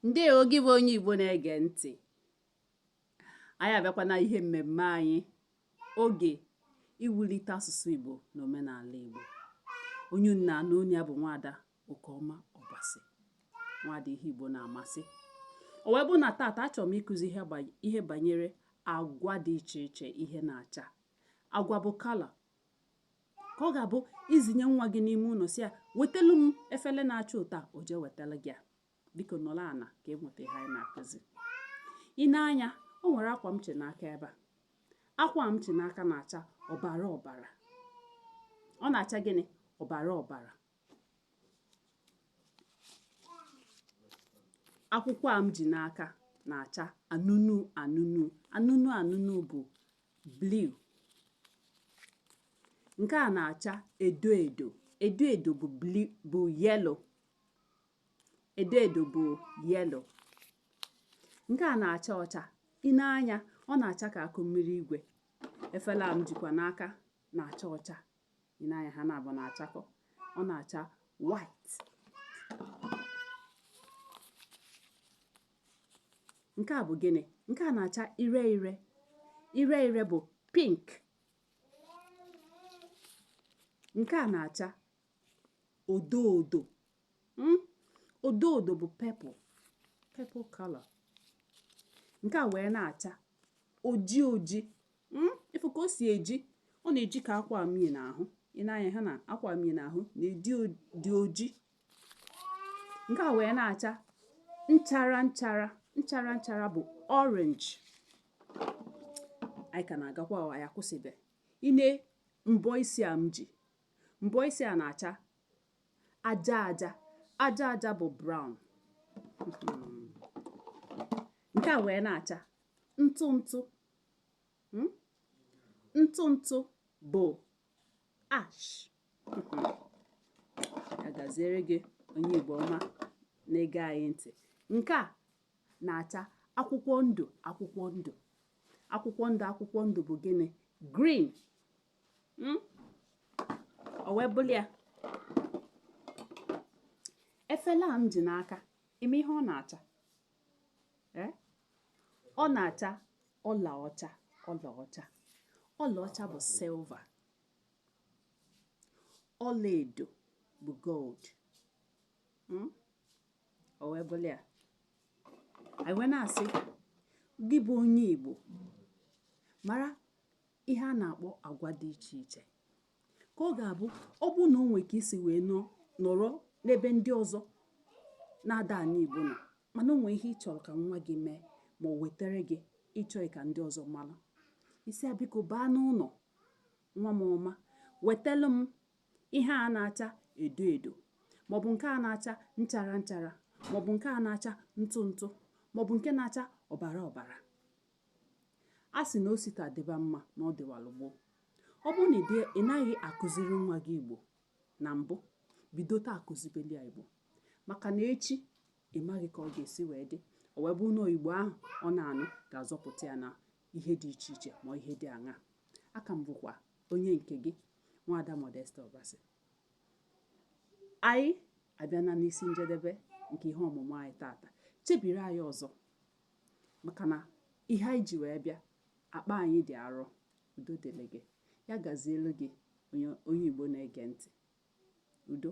ndewo gị bụ onye igbo na-ege ntị anyị abịakwa na ihe mmemme anyị oge iwulite asụsụ igbo na omenala igbo onye unu na-anụ onu ya bụ nwada okeọma ọbasi nwada ihe igbo na-amasị o wee bụ na tata achọrọ m ịkụzi ihe banyere agwa dị iche iche ihe na-acha agwa bụ color ka ọ ga-abụ i ziye nwa gị n'ime ụnọ sị ya wetelu m efele na-acha otu a o jee wetalụ gị ya biko nọlụ ana ka i nweta ihe anyị na-akụzi i nee anya o nwere akwa m chị n'aka ebe a akwa m chị n'aka na-acha ọbara ọbara ọ na-acha gịnị ọbara ọbara akwụkwọ a m ji n'aka na-acha anụnụ anụnụ anụnụ anụnụ bụ blue nke a na-acha edo edo edo edo bụ blue bụ yellow edo edo bụ yellow nke a na-acha ọcha i nee anya ọ na-acha ka akụ mmiri igwe efele a m jikwa n'aka na-acha ọcha i nee anya ha naabọ na-achakọ ọ na-acha white nke a bụ gịnị nke a na-acha ire ire ire ire bụ pink nke a na-acha odo odo hmm? odo odo bụ purple purple color nke a wee na-acha oji oji hmm, ị fụ ka o si eji ọ na-eji ka akwa m yi n'ahụ i nee anya ha na akwa m yi n'ahụ na-edi dị oji nke a wee na-acha nchara nchara nchara nchara bụ orange anyị ka na-agakwa anyị akwụsịbe i nee mbọ isi a m ji mbọ isi a na-acha aja aja aja aja bụ brown nke a wee na-acha ntụ ntụ hmm? ntụ ntụ bụ ash ya gaziere gị onye Igbo ọma na-ege anyị ntị nke a na-acha akwụkwọ ndụ akwụkwọ ndụ akwụkwọ ndụ akwụkwọ ndụ bụ gịnị green hmm? o wee bụlụ ya efele a m ji n'aka ị ma ihe ọ na-acha eh? ọ na-acha ọlaọcha ọlaọcha ọlaọcha bụ silver ọlaedo bụ gold hmm? o wee bụlụ ya anyị wee na-asị gị bụ onye Igbo mara ihe a na-akpọ agwa dị iche iche ka ọ ga-abụ ọ bụrụ na o nwere ka i si wee nọrọ n'ebe ndị ọzọ na-ada anụ igbo nọ mana o nwee ihe ị chọrọ ka nwa gị mee ma o wetere gị ị chọghị ka ndị ọzọ mara ị sị ya biko baa n'ụlọ nwa m ọma wetelu m ihe a na-acha edo edo maọbụ nke a na-acha nchara nchara maọbụ nke a na-acha ntụ ntụ maọbụ nke na-acha ọbara ọbara A sị na o si taa dịba mma na ọ dịwalụ gboo. Ọ bụrụ na ị naghị akụziri nwa gị Igbo na mbụ, bido taa kụzibeli ya Igbo maka na echi ị maghị ka ọ ga-esi wee dị o wee bụrụ na Igbo ahụ ọ na-anụ ga-azọpụta ya na ihe dị iche iche ma ihe dị aṅaa aka m bụkwa onye nke gị nwaada Modesta Obasi anyị abịana n'isi njedebe nke ihe ọmụmụ anyị tata chebiri anyị ọzọ maka na ihe anyị ji wee bịa akpa anyị dị arọ udo dịrị gị ya gazielu gị onye Igbo na-ege ntị udo